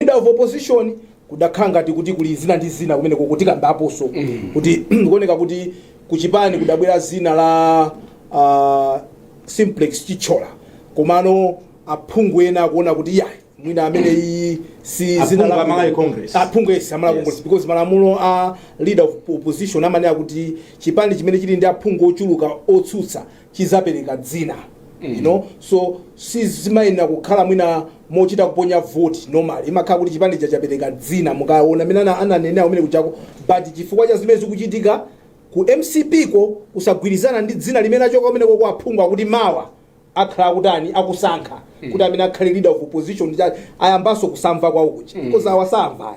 leader of opposition kudakhala ngati kuti kuli zina ndi zina kumene koko tikambaponso kuti kuoneka kuti kuchipani kudabwera dzina la uh, simplex chithyola komano aphungu ena akuona kuti yayi mwina amene iyi si dzina Aphungu la- a Malawi Congress. aphungu yes a malawi Yes. congress because malamulo a leader of opposition amanena kuti chipani chimene chili ndi aphungu ochuluka otsutsa chidzapereka dzina mm. you know so sizimayenera kukhala mwina mochita kuponya vote normal imakhala kuti chipani chachapereka dzina mukaona amene ana- ananena kumene kujako but chifukwa cha zimene zikuchitika ku mcp ko kusagwirizana ndi dzina limene lachoka kumene koko aphungu akuti mawa akhala akutani akusankha kuti amene akhale leader of opposition cha- ayambanso kusamva kwawo kuja because awasamvayo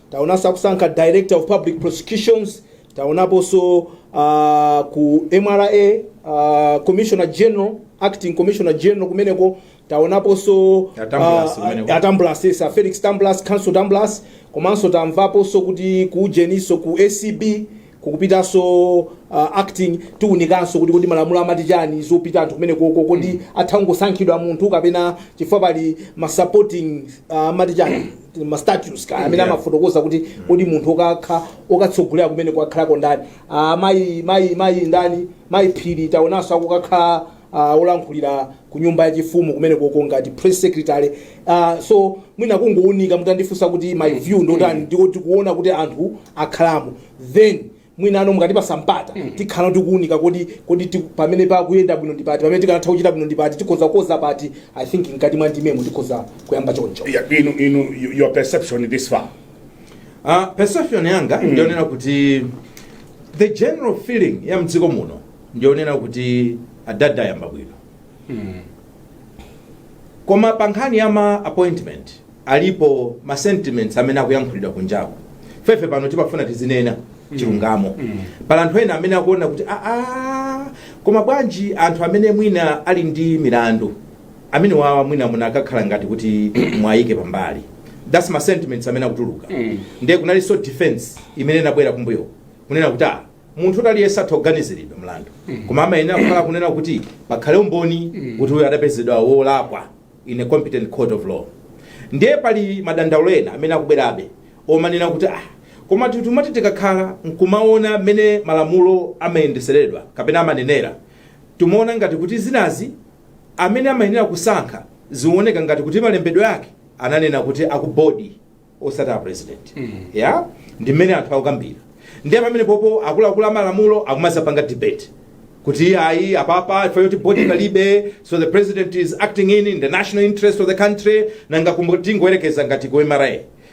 taonanso akusankha director of public prosecutions taonaponso uh, ku mra uh, commissioner general acting commissioner general kumeneko taonaponso Atambulasi uh, kumeneko. atambulasi yes, felix tambulasi counsel tambulasi komanso tamvaponso kuti ku ujeninso ku acb kukupitanso uh, acting tiunikanso kuti kodi malamulo amati chani zopita anthu kumene koko kodi atha kungosankhidwa munthu kapena chifukwa pali ma supporting uh, amati chani ma statutes ka amene Yeah. amafotokoza kuti kodi munthu okakha okatsogolera kumeneko akhalako ndani uh, mayi mayi mayi ndani mayi phiri taonanso akukakhala uh, olankhulira ku nyumba yachifumu kumene koko ngati press secretary uh, so mwina kungounika mutandifunsa kuti my view ndotani ndiko tikuona kuti anthu akhalamo then mwina ano mukatipatsa mpata tikhala tikuunika kodi kodi ti- pamene pakuyenda bwino ndi pati pamene tikanatha kuchita bwino ndi pati tikhoza kukonza pati i think mkati mwa ndimemo tikhoza kuyamba choncho Yeah, inu, inu, y- your perception this far. Uh, perception yanga ndionena kuti the general feeling ya mdziko muno ndionena kuti adadi ayamba bwino koma pa nkhani ya ma appointment alipo ma sentiments amene akuyankhulidwa kunjako fefe pano timafuna tizinena chilungamo pali anthu ena amene akuona kuti aa koma bwanji anthu amene mwina ali ndi milandu amene wawa mwina munakakhala ngati kuti mwayike pambali that's ma sentiments amene akutuluka ndiye kunalinso defense imene inabwera kumbuyo kunena kuti ah munthu kuti aliyense atha kuganiziridwa mlandu koma amayenera kukhala kunena kuti pakhale umboni kuti uyo adapezedwa wolakwa in a competent court of law ndiye pali madandaulo ena amene akubwerabe omanena kuti ah komatu timati tikakhala nkumaona mmene malamulo amayendetseredwa kapena amanenera timaona ngati kuti zinazi amene amayenera kusankha zioneka ngati kuti malembedwe ake ananena kuti a ku board osati a president ya ndi mmene anthu akukambira ndiye pamene popo akuluakulu amalamulo akumadzapanga debate kuti ayi apapa chifukwa choti body palibe so the president is acting in, in the national interest of the country nanga tingoyerekeza ngati ku mra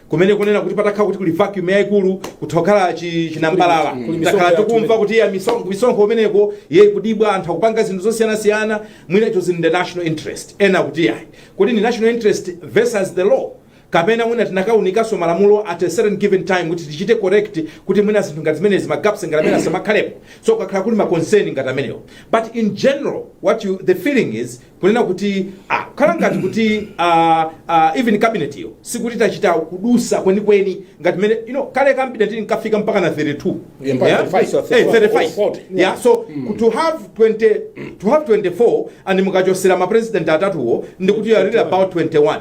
kumene kunena kuti patakhala kuti kuli vacuum yayikulu kutha kukhala chi- chinambalala Kuli- kuli takhala misonkho tikumva yathu kuti ya misonkho misonkho umeneko yayi ikubedwa anthu akupanga zinthu zosiyanasiyana mwina icho zili in the national interest ena kuti yayi kuti ndi national interest versus the law kapena mwina tinakaunikanso malamulo at a certain given time kuti tichite correct kuti mwina zinthu ngati zimenezi ma gaps ngati amenewa asamakhalepo so kukhala kuli ma concern ngati amenewo but in general what you the feeling is kunena kuti ah, zikukhala ngati kuti ah, ah, even cabinet iyo sikuti tachita kudutsa kwenikweni ngati mmene you know kale cabinet tinkafika mpaka na 32 Yeah, mpaka Yeah? 35, so Eh, 35 40. yeah so to have 20 to have 24 and mukachotsera ma president atatuwo ndikuti you are really about 21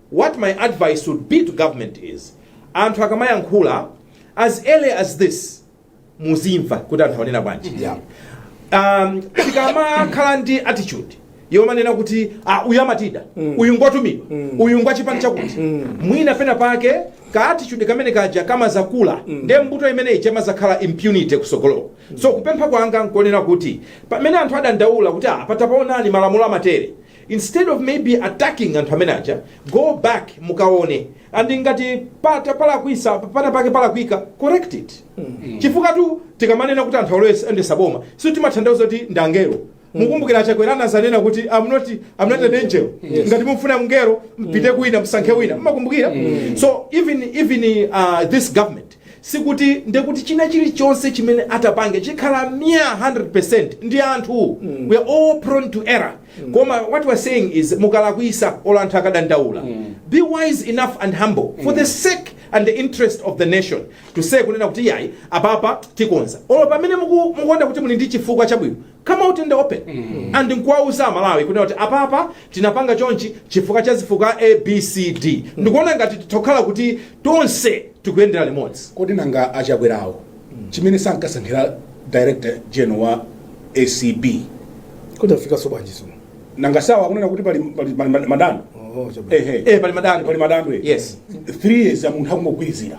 What my advice would be to government is anthu akamayankhula as early as this muzimva kuti anthu akunena bwanji Yeah. um, tikamakhala ndi attitude yomanena kuti ah, uyu amatida uyu ngotumidwa uyu ngwachipani chakuti mwina pena pake ka attitude kamene kaja kamazakula nde mbeu imeneyi imazakhala impunity kutsogoloko so kupempha kwanga nkonena kuti pamene anthu adandaula kuti ah, patapaonani malamulo amatere instead of maybe attacking anthu amene aja go back mukaone and ngati pata talakwitsa pana pake palakwika correct it chifukwatu tikamanena kuti anthu always oyendetsa boma sitimatanthauza kuti ndi angelo mukumbukira achakwera anazanena kuti I'm not, I'm not an angel ngati mufuna mngelo mpite kwina msankhe wina mmakumbukira so even, even uh, this government Sikuti nde kuti china chilichonse chimene atapange chikhala myaa 100% ndi anthu we are all prone to error koma what we are saying is mukalakwisa olo anthu akadandaula be wise enough and humble for the sake and the interest of the nation to say kunena kuti iyayi apapa tikonza olo pamene muku- mukuona kuti muli ndi chifukwa chabwino come out in the open and nkuwauza amalawi kunena kuti apapa tinapanga chonchi chifukwa cha zifukwa abcd ndikuona ngati titha kukhala kuti tonse tikuyendera limodzi kodi nanga achakwerawo chimene sankasankhira director general wa acb kuti afikenso bwanji zino nanga si awa akunena kuti pali pali- pali ma- madando Oh, chabwino. ehe eh pali madando pali madando eh. yes three years a munthu akungogwirizira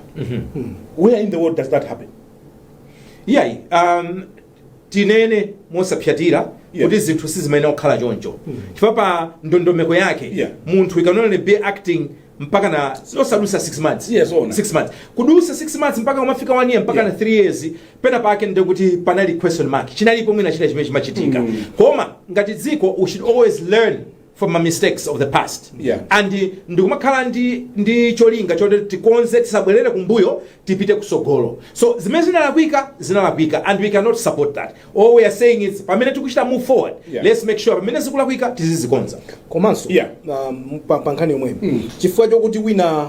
where in the world does that happen iyayi um, tinene mosapsatira Yeah. kuti zinthu sizimayenera kukhala choncho chifukwa pa ndondomeko yake Yeah. munthu you can only be acting mpaka osadutsa 6 months Yes, ona. 6 months kudutsa 6 months mpaka kumafika 1 year mpaka Yeah. na 3 years pena pake nde kuti panali question mark chinalipo mwina china chimene chimachitika koma ngati dziko we should always learn from my mistakes of the past Yeah. and eh, ndikumakhala ndi, ndi cholinga choti tikonze tisabwerere kumbuyo tipite kutsogolo so zimene zinalakwika zinalakwika and we cannot support that all we are saying is pamene tikuchita move forward Yeah. let's make sure pamene zikulakwika tizizikonza komanso Yeah. um, pa pa nkhani yomweyo chifukwa chokuti wina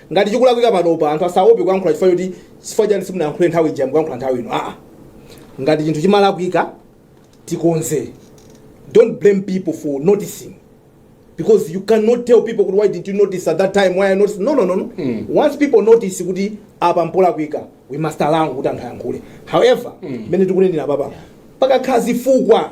Ngati chikulakwika panopa, anthu asaope kuyankhula chifukwa choti chifukwa chani simunayankhule nthawi ija mukuyankhula nthawi ino aa ngati chinthu chimalakwika tikonze don't blame people for noticing because you cannot tell people kuti why didn't you notice at that time why are you noticing no no no, no. Mm. once people notice kuti apa mpolakwika we must allow kuti anthu ayankhule however mmene mm. tikunenera apapa pakakhala zifukwa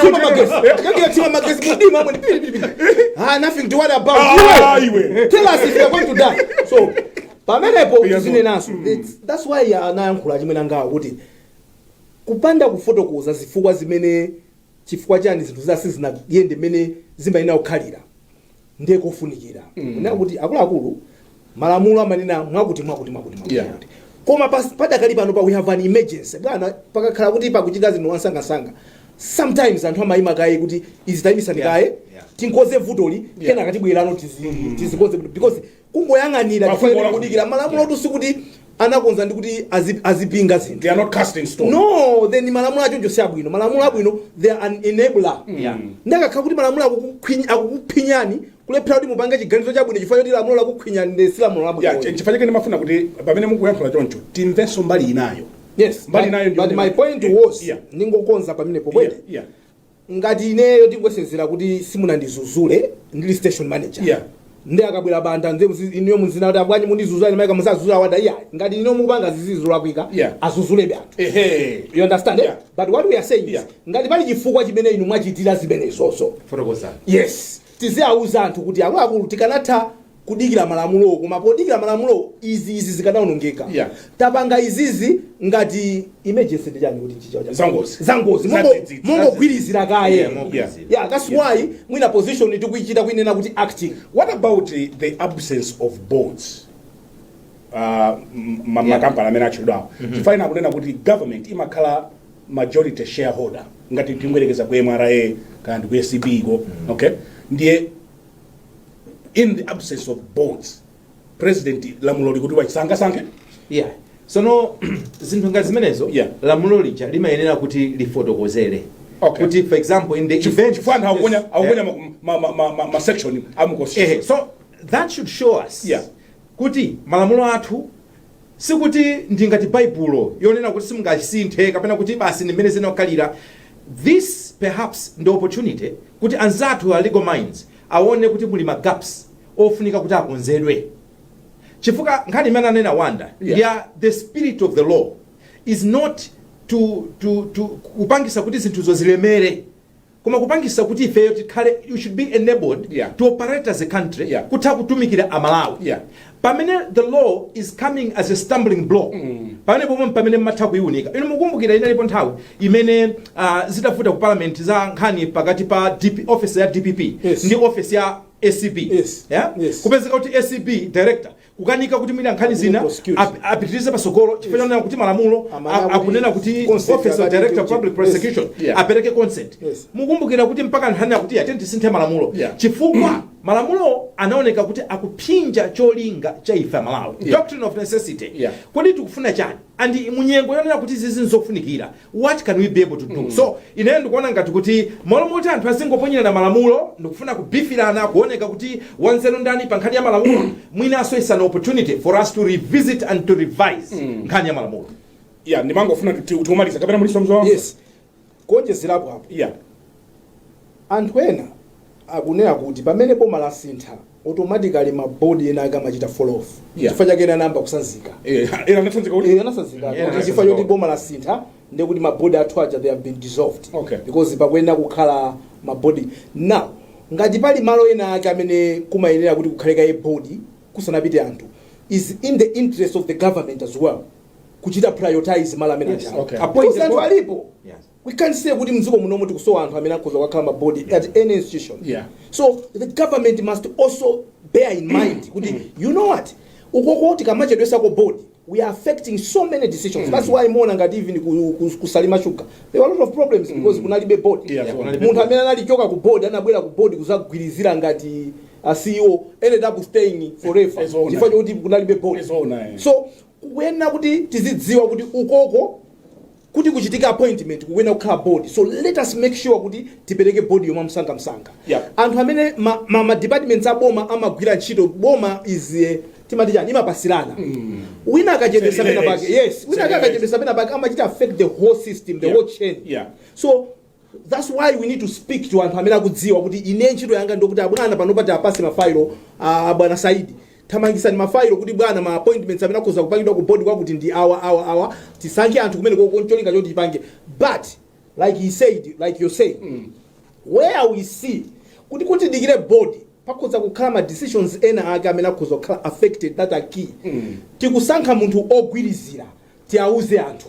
Thima magetsi. Kakathima magetsi mumdima mwe pili pili pili. Ah nothing to worry about. Ah, Iwe. iwe. Tell us if you are going to die. So pamenepo Yes, zinenanso. It's- That's why ya anayankhula chimwene anangawa kuti kupanda kufotokoza zifukwa zimene chifukwa chani zinthu za- sizinayende mmene zimayenera kukhalira. ndiye kofunikira kunena kuti akuluakulu malamulo amanena mwakuti mwakuti mwakuti mwakuti Yeah. mwakuti. koma pas- padakali pano pa we have an emergency bwana pakakhala kuti pakuchitika zinthu mwamsangamsanga sometimes anthu amayima kaye kuti izi tayimisani Yeah. kaye Yeah. tikonze vutoli Yeah. kenaka tibwereno tizi- tidzakonze vuto because kungoyang'anira Mafumu chifukwa olakwika. kudikira malamulo Yeah. wotu sikuti anakonzedwa kuti azi- azipinga zinthu they are not cast in stone no then malamulo achoncho si abwino malamulo abwino they are an enabler Yeah. ndiye akakhala kuti malamulo akukukhwiny- akukuphinyani kulephera kuti mupange chiganizo chabwino chifukwa choti lamulo lakukhwinyani ndiye si lamulo Yeah, labwino ch- chifukwa chake ndimafuna kuti pamene mukuyankhula choncho timvenso mbali inayo yes Mbali but, inayo ndi but kuti- my point was Yeah. ndingokonza pamenepo bwere Yeah, yeah. ngati ineyo tingoyerekezera kuti simunandidzudzule ndili station manager Yeah. ndiye akabwera banda nze muzi- inuyo muzinena kuti abwanyi simunandidzudzule ine maika musadzudzule wada iya ngati ineyo ndikupanga zolakwika Yeah. adzudzulebe anthu ehe you understand eh? Yeah. but what we are saying Yeah. is ngati pali chifukwa chimene inu mwachitira zimenezozo fotokozani yes Tiziauza anthu kuti akuluakulu tikanatha kudikira malamulowo koma podikira malamulowo izi izi zikanaonongeka. Yeah. Tapanga izizi ngati emergency ndi chani kuti mchichewa chake? Zangozi. Zangozi. Mongo- Zadzidzidzi. Mongogwirizira kaye. Yeah, mogwirizira. Yeah, that's why mwina position tikuichita kuinena kuti acting. What about uh, the absence of boards? Uh, m- ma- makampani amene atchedwawo timafuna kunena kuti government imakhala majority shareholder ngati tingoyerekeza ku mra kaya ndi ku acb ko okay ndiye in the absence of boards president lamulo likuti achite asankhe yeah sono zinthu ngati zimenezo Yeah. lamulo lija limayenera kuti lifotokozere Okay. kuti for example in the event chifukwa anthu akuponya Yeah. akuponya ma- ma- ma- ma- ma section Ehe, a mu constitution that should show us Yeah. kuti malamulo athu Sikuti ndi ngati Baibulo, yonena kuti simungalisinthe kapena kuti basi ndi mmene ziyenera kukhalira. This perhaps ndi opportunity kuti anzathu a Legal Minds awone kuti muli ma gaps ofunika kuti akonzedwe. Chifukwa nkhani imene ananena Wanda Yeah. ndi ya the spirit of the law is not to, to, to kupangisa kuti zinthuzo zilemere. koma kupangisa kuti ifeyo tikhale you should be enabled yeah. to operate as a country yeah. kutha kutumikira amalawi yeah. pamene the law is coming as a stumbling block mm. pamenepo m'mwe pamene mumatha kuiunika inu mukumbukira inalipo nthawi imene uh, zitavuta ku parliament za nkhani pakati pa DP, office ya dpp yes. ndi office ya acb yes. Yeah? Yes. kupezeka kuti acb director kukanika kuti mwina nkhani zina ap- apitirize patsogolo chifukwa chonena kuti malamulo a- akunena kuti office of director of public prosecution Yeah. apereke consent Yes. mukumbukira kuti mpaka nkhani akuti yathet tisinthe malamulo Yeah. chifukwa malamulo anaoneka kuti akuphinja cholinga cha ife amalawi Yeah. doctrine of necessity Yeah. kodi tikufuna chani and munyengo yonena kuti zizi nzofunikira what can we be able to do so ineyo ndikuona ngati kuti m'malo moti anthu azingoponyerana malamulo ndikufuna kupikisana kuoneka kuti wanzeru ndani pa nkhani ya malamulo mwinanso is an opportunity for us to revisit and to revise nkhani ya malamulo ya ndimangofuna kuti kuti umaliza kapena muliso mzwa yes kuonjezerapo apo ya anthu ena akunena kuti pamene boma lasintha automatically ma board ena ake amachita fall off Yeah. chifukwa chake ena anayamba kutsanzika Eh, ena anatsanzika kuti Eh, anatsanzika Yeah, kuti chifukwa choti boma lasintha ndiye kuti mabodi athu aja they have been dissolved Okay. because pakuyenera kukhala mabodi now ngati pali malo ena ake amene kumayenera kuti kukhale kaye bodi kusanapite anthu is in the interest of the government as well kuchita prioritize malo amene Yes, aja okay. Because Appoint a anthu board. alipo Yes. we can't say kuti mdziko munomu tikusowa anthu amene akhoza kukakhala ma board at any institution Yeah. so the government must also bear in mind kuti you know what ukoko tikamachedwetsako board we are affecting so many decisions that's why mona ngati even ku- ku- ku Salima Sugar there were a lot of problems because kunalibe board Yeah, kunalibe munthu amene anangochoka ku board anabwera ku board kuzagwirizira ngati a CEO ended up staying forever As owner. chifukwa choti kunalibe board As owner, yeah. so kukuyenera kuti tizidziwa kuti ukoko kuti kuchitike appointment kukuyenera kukhala board so let us make sure kuti tipereke board yomwe msanga msanga Yeah. anthu amene ma, ma, ma departments a boma amagwira ntchito boma is timati chani imapatsirana wina akachedwetsa Same pena levels. pake yes wina Same akachedwetsa pena pake amachita affect the whole system the Yeah. whole chain Yeah. so That's why we need to speak to anthu amene akudziwa kuti ine ntchito yanga ndokuti abwana panopa tiwapatse mafailo a a bwana Saidi thamangitsani mafailo kuti bwana ma appointments amene akhoza kupangidwa ku board kwakuti ndi awa awa awa tisankhe anthu kumene koko ncholinga choti tipange but like he said like you say where we see kuti tidikire board pakhoza kukhala ma decisions ena ake amene akhoza kukhala affected that are key tikusankha munthu ogwirizira tiauze anthu